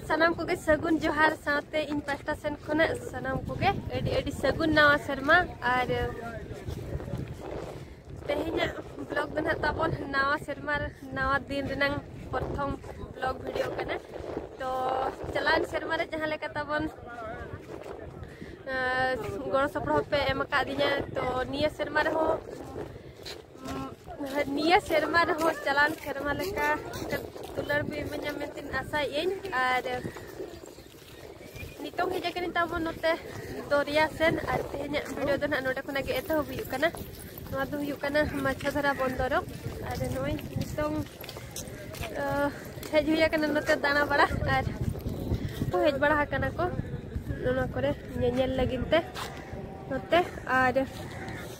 ᱥᱟᱱᱟᱢ ᱠᱚᱜᱮ ᱥᱟᱹᱜᱩᱱ ᱡᱚᱦᱟᱨ ᱥᱟᱶᱛᱮ ᱤᱧ ᱯᱟᱥᱴᱟ ᱥᱮᱱ ᱠᱷᱚᱱᱟᱜ ᱥᱟᱱᱟᱢ ᱠᱚᱜᱮ ᱟᱹᱰᱤ ᱟᱹᱰᱤ ᱥᱟᱹᱜᱩᱱ ᱱᱟᱣᱟ ᱥᱮᱨᱢᱟ ᱟᱨ ᱛᱮᱦᱮᱧᱟᱜ ᱵᱞᱚᱜ ᱫᱚ ᱱᱟᱦᱟᱜ ᱛᱟᱵᱚᱱ ᱱᱟᱣᱟ ᱥᱮᱨᱢᱟ ᱱᱟᱣᱟ ᱫᱤᱱ ᱨᱮᱱᱟᱝ ᱯᱨᱚᱛᱷᱚᱢ ᱵᱞᱚᱜ ᱵᱷᱤᱰᱤᱭᱳ ᱠᱟᱱᱟ ᱛᱚ ᱪᱟᱞᱟᱣᱮᱱ ᱥᱮᱨᱢᱟ ᱨᱮ ᱡᱟᱦᱟᱸ ᱞᱮᱠᱟ ᱛᱟᱵᱚᱱ ᱜᱚᱲᱚ ᱥᱚᱯᱲᱚ ᱯᱮ ᱮᱢ ᱟᱠᱟᱫᱤᱧᱟ ᱛᱚ ᱱᱤᱭᱟᱹ ᱥᱮᱨᱢᱟ ᱨᱮᱦᱚᱸ ᱱᱤᱭᱟᱹ ᱥᱮᱨᱢᱟ ᱨᱮᱦᱚᱸ ᱪᱟᱞᱟᱣ ᱥᱮᱨᱢᱟ ᱞᱮᱠᱟ ᱫᱩᱞᱟᱹᱲ ᱯᱮ ᱤᱢᱟᱹᱧᱟ ᱢᱮᱱᱛᱮᱧ ᱟᱥᱟᱭᱮᱫ ᱟᱹᱧ ᱟᱨ ᱱᱤᱛᱚᱝ ᱦᱮᱡ ᱟᱠᱟᱱᱟᱹᱧ ᱛᱟᱵᱚᱱ ᱱᱚᱛᱮ ᱫᱚᱨᱭᱟ ᱥᱮᱱ ᱟᱨ ᱛᱮᱦᱮᱧᱟᱜ ᱵᱷᱤᱰᱤᱭᱳ ᱫᱚ ᱱᱟᱦᱟᱜ ᱱᱚᱰᱮ ᱠᱷᱚᱱᱟᱜ ᱜᱮ ᱮᱛᱚᱦᱚᱵ ᱦᱩᱭᱩᱜ ᱠᱟᱱᱟ ᱱᱚᱣᱟ ᱫᱚ ᱦᱩᱭᱩᱜ ᱠᱟᱱᱟ ᱢᱟᱪᱷᱟᱫᱷᱟᱨᱟ ᱵᱚᱱᱫᱚᱨ ᱟᱨ ᱱᱚᱜᱼᱚᱭ ᱱᱤᱛᱚᱝ ᱦᱮᱡ ᱦᱩᱭ ᱟᱠᱟᱱᱟ ᱱᱚᱛᱮ ᱫᱟᱬᱟ ᱵᱟᱲᱟ ᱟᱨ ᱠᱚ ᱦᱮᱡ ᱵᱟᱲᱟ ᱟᱠᱟᱱᱟ ᱠᱚ ᱚᱱᱟ ᱠᱚᱨᱮ ᱧᱮᱧᱮᱞ ᱞᱟᱹᱜᱤᱫ ᱛᱮ ᱱᱚᱛᱮ ᱟᱨ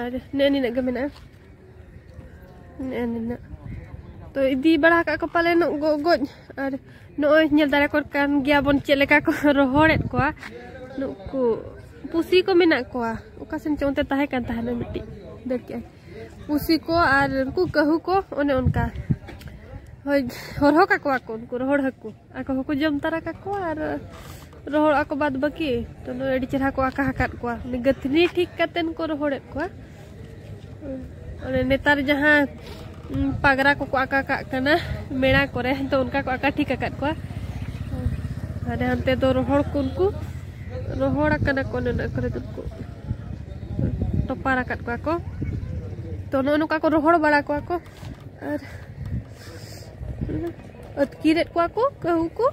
ᱟᱨ ᱱᱮᱜᱼᱮ ᱱᱤᱱᱟᱹᱜ ᱜᱮ ᱢᱮᱱᱟᱜᱼᱟ ᱱᱮᱜᱼᱮ ᱱᱤᱱᱟᱹᱜ ᱛᱚ ᱤᱫᱤ ᱵᱟᱲᱟ ᱠᱟᱜ ᱠᱚ ᱯᱟᱞᱮ ᱱᱚᱜ ᱜᱚᱡ ᱟᱨ ᱱᱚᱜᱼᱚᱭ ᱧᱮᱞ ᱫᱟᱲᱮ ᱠᱚ ᱠᱟᱱ ᱜᱮᱭᱟ ᱵᱚᱱ ᱪᱮᱫ ᱞᱮᱠᱟ ᱠᱚ ᱨᱚᱦᱚᱲᱮᱫ ᱠᱚᱣᱟ ᱱᱩᱠᱩ ᱯᱩᱥᱤ ᱠᱚ ᱢᱮᱱᱟᱜ ᱠᱚᱣᱟ ᱚᱠᱟ ᱥᱮᱱ ᱪᱚ ᱚᱱᱛᱮ ᱛᱟᱦᱮᱸ ᱠᱟᱱ ᱛᱟᱦᱮᱱᱟ ᱢᱤᱫᱴᱤᱡ ᱫᱟᱹᱲ ᱠᱮᱜᱼᱟᱭ ᱯᱩᱥᱤ ᱠᱚ ᱟᱨ ᱩᱱᱠᱩ ᱠᱟᱹᱦᱩ ᱠᱚ ᱚᱱᱮ ᱚᱱᱠᱟ ᱦᱳᱭ ᱦᱚᱨᱦᱚ ᱠᱟᱠᱚᱣᱟ ᱠᱚ ᱩᱱᱠᱩ ᱨᱚᱦᱚᱲ ᱦᱟᱹᱠᱩ ᱟᱠᱚ ᱦᱚᱸᱠᱚ ᱡᱚᱢ ᱛᱟᱨᱟ ᱠᱟᱠᱚᱣᱟ ᱟᱨ ᱨᱚᱦᱚᱲ ᱟᱠᱚ ᱵᱟᱫ ᱵᱟᱹᱠᱤ ᱛᱚ ᱟᱹᱰᱤ ᱪᱮᱦᱨᱟ ᱠᱚ ᱟᱠᱟ ᱟᱠᱟᱫ ᱠᱚᱣᱟ ᱩᱱᱤ ᱜᱟᱹᱛᱷᱱᱤ ᱴᱷᱤᱠ ᱠᱟᱛᱮᱱ ᱠᱚ ᱨᱚᱦᱚᱲᱮᱫ ᱠᱚᱣᱟ ᱚᱱᱮ ᱱᱮᱛᱟᱨ ᱡᱟᱦᱟᱸ ᱯᱟᱜᱽᱨᱟ ᱠᱚᱠᱚ ᱟᱠᱟ ᱠᱟᱜ ᱠᱟᱱᱟ ᱢᱮᱲᱟ ᱠᱚᱨᱮ ᱛᱚ ᱚᱱᱠᱟ ᱠᱚ ᱟᱠᱟ ᱴᱷᱤᱠ ᱟᱠᱟᱫ ᱠᱚᱣᱟ ᱦᱟᱱᱮ ᱦᱟᱱᱛᱮ ᱫᱚ ᱨᱚᱦᱚᱲ ᱠᱚ ᱩᱱᱠᱩ ᱨᱚᱦᱚᱲ ᱟᱠᱟᱱᱟ ᱠᱚ ᱚᱱᱮ ᱚᱱᱟ ᱠᱚᱨᱮ ᱫᱚ ᱩᱱᱠᱩ ᱴᱚᱯᱟᱨ ᱟᱠᱟᱫ ᱠᱚᱣᱟ ᱠᱚ ᱛᱚ ᱱᱚᱜᱼᱚ ᱱᱚᱝᱠᱟ ᱠᱚ ᱨᱚᱦᱚᱲ ᱵᱟᱲᱟ ᱠᱚᱣᱟ ᱠᱚ ᱟᱨ ᱟᱹᱛᱠᱤᱨᱮᱫ ᱠᱚᱣᱟ ᱠᱚ ᱠᱟᱹᱦᱩ ᱠᱚ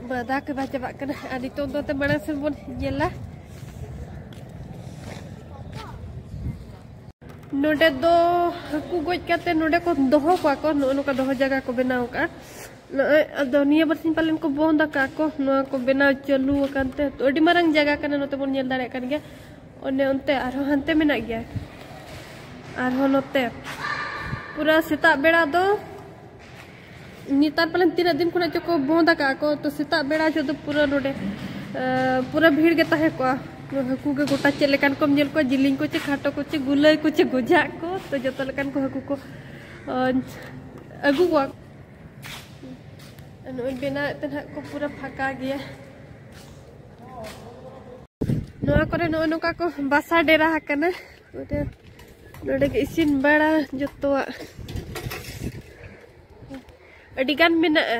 ᱵᱟᱫᱟ ᱠᱚ ᱵᱟᱭ ᱪᱟᱵᱟᱜ ᱠᱟᱱᱟ ᱟᱨ ᱱᱤᱛᱚᱜ ᱫᱚ ᱛᱮ ᱢᱟᱲᱟᱝ ᱥᱮᱱ ᱵᱚᱱ ᱧᱮᱞᱟ ᱱᱚᱰᱮ ᱫᱚ ᱦᱟᱹᱠᱩ ᱜᱚᱡ ᱠᱟᱛᱮ ᱱᱚᱰᱮ ᱠᱚ ᱫᱚᱦᱚ ᱠᱚᱣᱟ ᱠᱚ ᱱᱚᱜᱼᱚ ᱱᱚᱝᱠᱟ ᱫᱚᱦᱚ ᱡᱟᱭᱜᱟ ᱠᱚ ᱵᱮᱱᱟᱣ ᱠᱟᱜᱼᱟ ᱱᱚᱜᱼᱚᱭ ᱟᱫᱚ ᱱᱤᱭᱟᱹ ᱵᱟᱨᱥᱤᱧ ᱯᱟᱞᱮᱱ ᱠᱚ ᱵᱚᱱᱫ ᱟᱠᱟᱫ ᱠᱚ ᱱᱚᱣᱟ ᱠᱚ ᱵᱮᱱᱟᱣ ᱪᱟᱹᱞᱩ ᱟᱠᱟᱱ ᱛᱮ ᱛᱚ ᱟᱹᱰᱤ ᱢᱟᱨᱟᱝ ᱡᱟᱭᱜᱟ ᱠᱟᱱᱟ ᱱᱚᱛᱮ ᱵᱚᱱ ᱧᱮᱞ ᱫᱟᱲᱮᱭᱟᱜ ᱠᱟᱱ ᱜᱮᱭᱟ ᱚᱱᱮ ᱚᱱᱛᱮ ᱟᱨᱦᱚᱸ ᱦᱟᱱᱛᱮ ᱢᱮᱱᱟᱜ ᱜᱮᱭᱟ ᱟᱨᱦᱚᱸ ᱱᱚᱛᱮ ᱯᱩᱨᱟᱹ ᱥᱮᱛᱟᱜ ᱵᱮᱲᱟ ᱫᱚ ᱱᱮᱛᱟᱨ ᱯᱟᱞᱮᱱ ᱛᱤᱱᱟᱹᱜ ᱫᱤᱱ ᱠᱷᱚᱱᱟᱜ ᱪᱚᱠᱚ ᱵᱚᱱᱫ ᱟᱠᱟᱫ ᱠᱚ ᱛᱚ ᱥᱮᱛᱟᱜ ᱵᱮᱲᱟ ᱡᱚ ᱫᱚ ᱯᱩᱨᱟᱹ ᱱᱚᱰᱮ ᱯᱩᱨᱟᱹ ᱵᱷᱤᱲ ᱜᱮ ᱛᱟᱦᱮᱸ ᱠᱚᱜᱼᱟ ᱦᱟᱹᱠᱩ ᱜᱮ ᱜᱚᱴᱟ ᱪᱮᱫ ᱞᱮᱠᱟᱱ ᱠᱚᱢ ᱧᱮᱞ ᱠᱚᱣᱟ ᱡᱤᱞᱤᱧ ᱠᱚ ᱪᱮ ᱠᱷᱟᱴᱚ ᱠᱚ ᱪᱮ ᱜᱩᱞᱟᱹᱭ ᱠᱚ ᱪᱮ ᱜᱚᱡᱟᱜ ᱠᱚ ᱛᱚ ᱡᱚᱛᱚ ᱞᱮᱠᱟᱱ ᱠᱚ ᱦᱟᱹᱠᱩ ᱠᱚ ᱟᱹᱜᱩ ᱠᱚᱣᱟ ᱱᱚᱜᱼᱚᱭ ᱵᱮᱱᱟᱣᱮᱫ ᱛᱮ ᱱᱟᱦᱟᱜ ᱠᱚ ᱯᱩᱨᱟᱹ ᱯᱷᱟᱸᱠᱟ ᱜᱮᱭᱟ ᱱᱚᱣᱟ ᱠᱚᱨᱮ ᱱᱚᱜᱼᱚᱭ ᱱᱚᱝᱠᱟ ᱠᱚ ᱵᱟᱥᱟ ᱰᱮᱨᱟ ᱟᱠᱟᱱᱟ ᱱᱚᱰᱮ ᱜᱮ ᱤᱥᱤᱱ ᱵᱟᱲᱟ ᱡᱚᱛᱚᱣᱟᱜ ᱟᱹᱰᱤ ᱜᱟᱱ ᱢᱮᱱᱟᱜᱼᱟ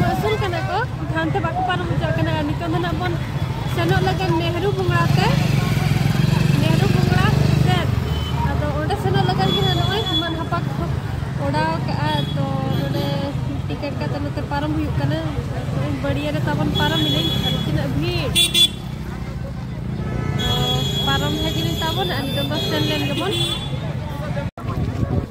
ᱢᱟᱹᱥᱩᱞ ᱠᱟᱱᱟ ᱠᱚ ᱫᱷᱟᱱᱛᱮ ᱵᱟᱠᱚ ᱯᱟᱨᱚᱢ ᱦᱚᱪᱚᱣᱟᱜ ᱠᱟᱱᱟ ᱟᱨ ᱱᱤᱛᱚᱜ ᱫᱚ ᱱᱟᱜ ᱵᱚᱱ ᱥᱮᱱᱚᱜ ᱞᱟᱹᱜᱤᱫ ᱱᱮᱦᱨᱩ ᱵᱚᱸᱜᱲᱟ ᱛᱮ ᱱᱮᱦᱨᱩ ᱵᱚᱸᱜᱲᱟ ᱥᱮᱫ ᱟᱫᱚ ᱚᱸᱰᱮ ᱥᱮᱱᱚᱜ ᱞᱟᱹᱜᱤᱫ ᱜᱮ ᱱᱚᱜᱼᱚᱭ ᱥᱟᱢᱟᱱ ᱦᱟᱯᱟ ᱠᱚ ᱚᱰᱟᱣ ᱠᱟᱜᱼᱟ ᱛᱚ ᱱᱚᱰᱮ ᱴᱤᱠᱮᱴ ᱠᱟᱛᱮ ᱱᱚᱛᱮ ᱯᱟᱨᱚᱢ ᱦᱩᱭᱩᱜ ᱠᱟᱱᱟ ᱵᱟᱹᱲᱤᱭᱟᱹ ᱨᱮ ᱛᱟᱵᱚᱱ ᱯᱟᱨᱚᱢ ᱤᱱᱟᱹᱧ ᱟᱨ ᱛᱤᱱᱟᱹᱜ ᱵᱷᱤᱲ ᱯᱟᱨᱚᱢ ᱦᱮᱡ ᱤᱱᱟᱹᱧ ᱛᱟᱵᱚᱱ ᱟᱨ ᱱᱤᱛᱚᱜ ᱫᱚ ᱥᱮᱱ ᱞᱮᱱ ᱜᱮᱵᱚᱱ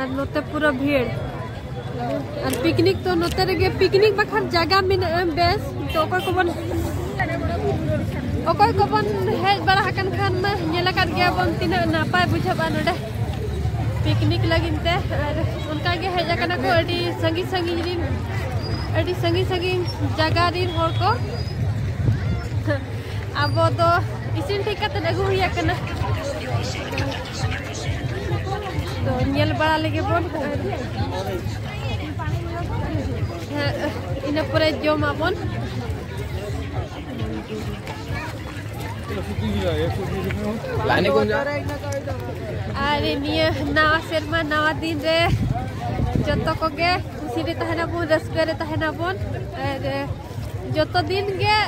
ᱟᱨ ᱱᱚᱛᱮ ᱯᱩᱨᱟᱹ ᱵᱷᱤᱲ ᱟᱨ ᱯᱤᱠᱱᱤᱠ ᱛᱚ ᱱᱚᱛᱮ ᱨᱮᱜᱮ ᱯᱤᱠᱱᱤᱠ ᱵᱟᱠᱷᱟᱱ ᱡᱟᱭᱜᱟ ᱢᱮᱱᱟᱜᱼᱟ ᱵᱮᱥ ᱛᱚ ᱚᱠᱚᱭ ᱠᱚᱵᱚᱱ ᱚᱠᱚᱭ ᱠᱚᱵᱚᱱ ᱦᱮᱡ ᱵᱟᱲᱟ ᱟᱠᱟᱱ ᱠᱷᱟᱱ ᱢᱟ ᱧᱮᱞ ᱟᱠᱟᱫ ᱜᱮᱭᱟ ᱵᱚᱱ ᱛᱤᱱᱟᱹᱜ ᱱᱟᱯᱟᱭ ᱵᱩᱡᱷᱟᱹᱜᱼᱟ ᱱᱚᱰᱮ ᱯᱤᱠᱱᱤᱠ ᱞᱟᱹᱜᱤᱫ ᱛᱮ ᱟᱨ ᱚᱱᱠᱟ ᱜᱮ ᱦᱮᱡ ᱟᱠᱟᱱᱟ ᱠᱚ ᱟᱹᱰᱤ ᱥᱟᱺᱜᱤᱧ ᱥᱟᱺᱜᱤᱧ ᱨᱤᱱ ᱟᱹᱰᱤ ᱥᱟᱺᱜᱤᱧ ᱥᱟᱺᱜᱤᱧ ᱡᱟᱭᱜᱟ ᱨᱤᱱ ᱦᱚᱲ ᱠᱚ ᱟᱵᱚ ᱫᱚ ᱤᱥᱤᱱ ᱴᱷᱤᱠ ᱠᱟᱛᱮ ᱟᱹᱜᱩ ᱦᱩᱭ ᱟᱠᱟᱱᱟ ᱛᱚ ᱧᱮᱞ ᱵᱟᱲᱟ ᱞᱮᱜᱮ ᱵᱚᱱ ᱤᱱᱟᱹ ᱯᱚᱨᱮ ᱡᱚᱢᱟ ᱵᱚᱱ ᱟᱨ ᱱᱤᱭᱟᱹ ᱱᱟᱣᱟ ᱥᱮᱨᱢᱟ ᱱᱟᱣᱟ ᱫᱤᱱ ᱨᱮ ᱡᱚᱛᱚ ᱠᱚᱜᱮ ᱠᱩᱥᱤ ᱨᱮ ᱛᱟᱦᱮᱱᱟᱵᱚᱱ ᱨᱟᱹᱥᱠᱟᱹ ᱨᱮ ᱛᱟᱦᱮᱱᱟᱵᱚᱱ ᱟᱨ ᱡᱚᱛᱚ ᱫᱤᱱ ᱜᱮ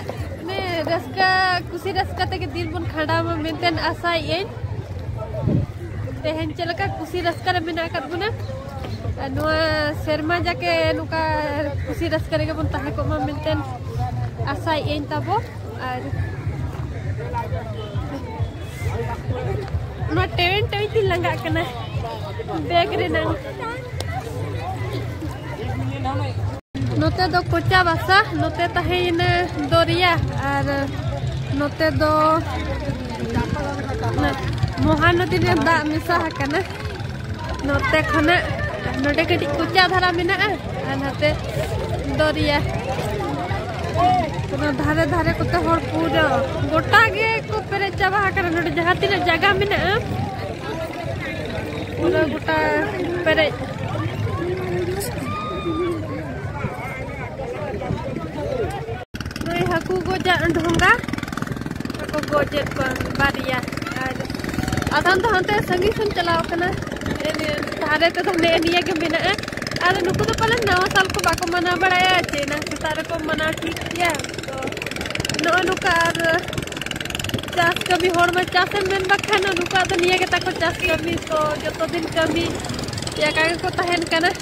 ᱢᱟᱱᱮ ᱨᱟᱹᱥᱠᱟᱹ ᱠᱩᱥᱤ ᱨᱟᱹᱥᱠᱟᱹ ᱛᱮᱜᱮ ᱫᱤᱱ ᱵᱚᱱ ᱠᱷᱟᱸᱰᱟᱣᱟ ᱢᱮᱱᱛᱮ ᱟᱥᱟᱭᱮᱫ ᱟᱹᱧ ᱛᱮᱦᱮᱧ ᱪᱮᱫ ᱞᱮᱠᱟ ᱠᱩᱥᱤ ᱨᱟᱹᱥᱠᱟᱹ ᱨᱮ ᱢᱮᱱᱟᱜ ᱟᱠᱟᱫ ᱵᱚᱱᱟ ᱱᱚᱣᱟ ᱥᱮᱨᱢᱟ ᱡᱟᱠᱮ ᱱᱚᱝᱠᱟ ᱠᱩᱥᱤ ᱨᱟᱹᱥᱠᱟᱹ ᱨᱮᱜᱮ ᱵᱚᱱ ᱛᱟᱦᱮᱸ ᱠᱚᱜ ᱢᱟ ᱢᱮᱱᱛᱮ ᱟᱥᱟᱭᱮᱫ ᱟᱹᱧ ᱛᱟᱵᱚ ᱟᱨ ᱱᱚᱣᱟ ᱴᱮᱣᱮᱱ ᱴᱮᱣᱮᱱ ᱛᱤᱧ ᱞᱟᱸᱜᱟᱜ ᱠᱟᱱᱟ ᱵᱮᱜᱽ ᱨᱮᱱᱟᱝ ᱱᱚᱛᱮ ᱫᱚ ᱠᱚᱪᱟ ᱵᱟᱥᱟ ᱱᱚᱛᱮ ᱛᱟᱦᱮᱸᱭᱮᱱᱟ ᱫᱚᱨᱭᱟ ᱟᱨ ᱱᱚᱛᱮ ᱫᱚ ᱢᱚᱦᱟᱱᱚᱫᱤ ᱨᱮ ᱫᱟᱜ ᱢᱮᱥᱟ ᱟᱠᱟᱱᱟ ᱱᱚᱛᱮ ᱠᱷᱚᱱᱟᱜ ᱱᱚᱰᱮ ᱠᱟᱹᱴᱤᱡ ᱠᱚᱪᱟ ᱫᱷᱟᱨᱟ ᱢᱮᱱᱟᱜᱼᱟ ᱟᱨ ᱱᱟᱛᱮ ᱫᱚᱨᱭᱟ ᱚᱱᱟ ᱫᱷᱟᱨᱮ ᱫᱷᱟᱨᱮ ᱠᱚᱛᱮ ᱦᱚᱲ ᱯᱩᱨᱟᱹ ᱜᱚᱴᱟ ᱜᱮ ᱠᱚ ᱯᱮᱨᱮᱡ ᱪᱟᱵᱟ ᱟᱠᱟᱱᱟ ᱱᱚᱰᱮ ᱡᱟᱦᱟᱸ ᱛᱤᱱᱟᱹᱜ ᱡᱟᱭᱜᱟ ᱢᱮᱱᱟᱜᱼᱟ ᱯᱩᱨᱟᱹ ᱜᱚᱴᱟ ᱯᱮᱨᱮᱡ ᱱᱩᱭ ᱦᱟᱹᱠᱩ ᱜᱚᱡᱟᱜ ᱰᱷᱚᱸᱜᱟ ᱠᱚ ᱜᱚᱡᱮᱫ ᱠᱚᱣᱟ ᱵᱟᱨᱭᱟ ᱟᱨ ᱟᱫᱷᱟᱱ ᱫᱚ ᱦᱟᱱᱛᱮ ᱥᱟᱺᱜᱤᱧ ᱥᱮᱱ ᱪᱟᱞᱟᱣ ᱠᱟᱱᱟ ᱫᱷᱟᱨᱮ ᱛᱮᱫᱚ ᱱᱮᱜᱼᱮ ᱱᱤᱭᱟᱹ ᱜᱮ ᱢᱮᱱᱟᱜᱼᱟ ᱟᱨ ᱱᱩᱠᱩ ᱫᱚ ᱯᱟᱞᱮᱱ ᱱᱟᱣᱟ ᱥᱟᱞ ᱠᱚ ᱵᱟᱠᱚ ᱢᱟᱱᱟᱣ ᱵᱟᱲᱟᱭᱟ ᱪᱮ ᱮᱱᱟᱝ ᱥᱮᱛᱟᱜ ᱨᱮᱠᱚ ᱢᱟᱱᱟᱣ ᱴᱷᱤᱠ ᱜᱮᱭᱟ ᱛᱚ ᱱᱚᱜᱼᱚ ᱱᱚᱝᱠᱟ ᱟᱨ ᱪᱟᱥ ᱠᱟᱹᱢᱤ ᱦᱚᱲ ᱢᱟ ᱪᱟᱥᱮᱢ ᱢᱮᱱ ᱵᱟᱠᱷᱟᱱ ᱱᱩᱠᱩᱣᱟᱜ ᱫᱚ ᱱᱤᱭᱟᱹ ᱜᱮᱛᱟ ᱠᱚ ᱪᱟᱥ ᱠᱟᱹᱢᱤ ᱛᱚ ᱡᱚᱛᱚ ᱫᱤᱱ ᱠᱟᱹᱢᱤ ᱮᱠᱟ ᱜᱮᱠᱚ ᱛᱟᱦᱮᱱ ᱠᱟᱱᱟ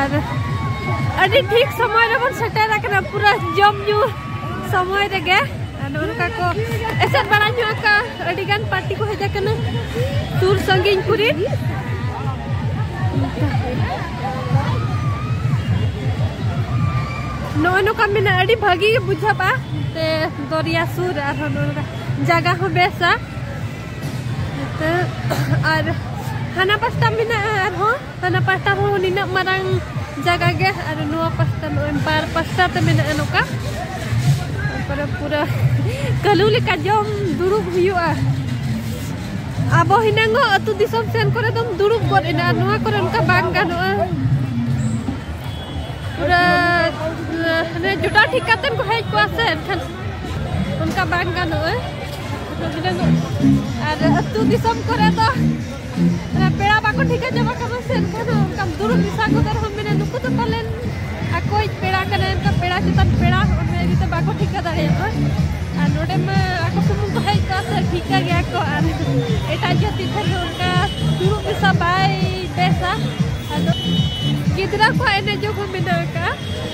ᱟᱨ ᱟᱹᱰᱤ ᱴᱷᱤᱠ ᱥᱚᱢᱚᱭ ᱨᱮᱵᱚᱱ ᱥᱮᱴᱮᱨ ᱟᱠᱟᱱᱟ ᱯᱩᱨᱟᱹ ᱡᱚᱢ ᱧᱩ ᱥᱚᱢᱚᱭ ᱨᱮᱜᱮ ᱱᱚᱝᱠᱟ ᱠᱚ ᱮᱥᱮᱫ ᱵᱟᱲᱟ ᱧᱚᱜ ᱟᱠᱟᱫᱼᱟ ᱟᱹᱰᱤ ᱜᱟᱱ ᱯᱟᱨᱴᱤ ᱠᱚ ᱦᱮᱡ ᱟᱠᱟᱱᱟ ᱥᱩᱨ ᱥᱟᱺᱜᱤᱧ ᱠᱚᱨᱮ ᱱᱚᱜᱼᱚᱭ ᱱᱚᱝᱠᱟ ᱢᱮᱱᱟᱜᱼᱟ ᱟᱹᱰᱤ ᱵᱷᱟᱹᱜᱤ ᱜᱮ ᱵᱩᱡᱷᱟᱹᱜᱼᱟ ᱛᱮ ᱫᱚᱨᱭᱟ ᱥᱩᱨ ᱟᱨᱦᱚᱸ ᱱᱚᱝᱠᱟ ᱡᱟᱭᱜᱟ ᱦᱚᱸ ᱵᱮᱥᱟ ᱟᱨ ᱦᱟᱱᱟ ᱯᱟᱥᱴᱟ ᱢᱮᱱᱟᱜᱼᱟ ᱟᱨᱦᱚᱸ ᱦᱟᱱᱟ ᱯᱟᱥᱴᱟ ᱦᱚᱸ ᱱᱤᱱᱟᱹᱜ ᱢᱟᱨᱟᱝ ᱡᱟᱭᱜᱟ ᱜᱮ ᱟᱨ ᱱᱚᱣᱟ ᱯᱟᱥᱴᱟ ᱱᱚᱜᱼᱚᱭ ᱵᱟᱨ ᱯᱟᱥᱴᱟ ᱛᱮ ᱢᱮᱱᱟᱜᱼᱟ ᱱᱚᱝᱠᱟ ᱛᱟᱨᱯᱚᱨᱮ ᱯᱩᱨᱟᱹ ᱠᱟᱹᱞᱩ ᱞᱮᱠᱟ ᱡᱚᱢ ᱫᱩᱲᱩᱵ ᱦᱩᱭᱩᱜᱼᱟ ᱟᱵᱚ ᱦᱤᱱᱟᱹᱝ ᱦᱚᱸ ᱟᱹᱛᱩ ᱫᱤᱥᱚᱢ ᱥᱮᱱ ᱠᱚᱨᱮ ᱫᱚᱢ ᱫᱩᱲᱩᱵ ᱜᱚᱫ ᱮᱱᱟ ᱟᱨ ᱱᱚᱣᱟ ᱠᱚᱨᱮ ᱚᱱᱠᱟ ᱵᱟᱝ ᱜᱟᱱᱚᱜᱼᱟ ᱯᱩᱨᱟᱹ ᱦᱟᱱᱮ ᱡᱚᱴᱟᱣ ᱴᱷᱤᱠ ᱠᱟᱛᱮᱱ ᱠᱚ ᱦᱮᱡ ᱠᱚᱜᱼᱟ ᱥᱮ ᱮᱱᱠᱷᱟᱱ ᱚᱱᱠᱟ ᱵᱟᱝ ᱜᱟᱱᱚᱜᱼᱟ ᱟᱨ ᱟᱹᱛᱩ ᱫᱤᱥᱚᱢ ᱠᱚᱨᱮ ᱫᱚ ᱯᱮᱲᱟ ᱵᱟᱠᱚ ᱴᱷᱤᱠᱟᱹ ᱡᱚᱢᱟ ᱠᱟᱱᱟ ᱥᱮ ᱮᱱᱠᱷᱟᱱ ᱫᱚ ᱚᱱᱠᱟ ᱫᱩᱲᱩᱵ ᱢᱮᱥᱟ ᱠᱚᱫᱚ ᱨᱮᱦᱚᱸ ᱢᱮᱱᱟ ᱱᱩᱠᱩ ᱫᱚ ᱯᱟᱞᱮᱱ ᱟᱠᱚᱭᱤᱡ ᱯᱮᱲᱟ ᱠᱟᱱᱟᱭ ᱚᱱᱠᱟ ᱯᱮᱲᱟ ᱪᱮᱛᱟᱱ ᱯᱮᱲᱟ ᱚᱱᱟ ᱤᱫᱤ ᱛᱮ ᱵᱟᱠᱚ ᱴᱷᱤᱠᱟᱹ ᱫᱟᱲᱮᱭᱟᱜᱼᱟ ᱟᱨ ᱱᱚᱰᱮ ᱢᱟ ᱟᱠᱚ ᱥᱩᱢᱩᱝ ᱠᱚ ᱦᱮᱡ ᱠᱚᱜᱼᱟ ᱥᱮ ᱴᱷᱤᱠᱟᱹ ᱜᱮᱭᱟ ᱠᱚ ᱟᱨ ᱮᱴᱟᱜ ᱡᱟᱹᱛᱤ ᱴᱷᱮᱱ ᱫᱚ ᱚᱱᱠᱟ ᱫᱩᱲᱩᱵ ᱢᱮᱥᱟ ᱵᱟᱭ ᱵᱮᱥᱟ ᱟᱫᱚ ᱜᱤᱫᱽᱨᱟᱹ ᱠᱚᱣᱟᱜ ᱮᱱᱮᱡ ᱡᱚᱜ ᱦᱚᱸ ᱢᱮᱱᱟᱜ ᱟᱠᱟᱫᱼᱟ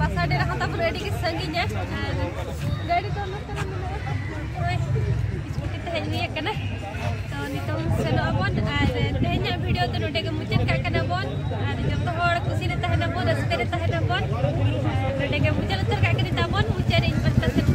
ᱵᱟᱥᱟ ᱰᱮᱨᱟ ᱦᱚᱸ ᱛᱟᱵᱚᱱ ᱟᱹᱰᱤ ᱜᱮ ᱥᱟᱺᱜᱤᱧᱟ ᱟᱨ ᱜᱟᱹᱰᱤ ᱫᱚ ᱱᱚᱛᱮ ᱨᱮ ᱢᱮᱱᱟᱜᱼᱟ ᱱᱚᱜᱼᱚᱭ ᱥᱠᱩᱴᱤ ᱛᱮ ᱦᱮᱡ ᱦᱩᱭ ᱟᱠᱟᱱᱟ ᱛᱚ ᱱᱤᱛᱚᱝ ᱥᱮᱱᱚᱜ ᱟᱵᱚᱱ ᱟᱨ ᱛᱮᱦᱮᱧᱟᱜ ᱵᱷᱤᱰᱤᱭᱳ ᱫᱚ ᱱᱚᱰᱮ ᱜᱮ ᱢᱩᱪᱟᱹᱫ ᱠᱟᱜ ᱠᱟᱱᱟ ᱵᱚᱱ ᱟᱨ ᱡᱚᱛᱚ ᱦᱚᱲ ᱠᱩᱥᱤ ᱨᱮ ᱛᱟᱦᱮᱱᱟ ᱵᱚᱱ ᱨᱟᱹᱥᱠᱟᱹ ᱨᱮ ᱛᱟᱦᱮᱱᱟ ᱵᱚᱱ ᱱᱚᱰᱮ ᱜᱮ ᱢᱩᱪᱟᱹᱫ ᱩᱛᱟᱹᱨ ᱠᱟᱜ ᱠᱟᱱᱟ ᱛᱟᱵᱚᱱ ᱢᱩᱪᱟᱹᱫ ᱨᱮ ᱤᱧ ᱯᱟᱥᱴᱟ ᱥᱮᱫ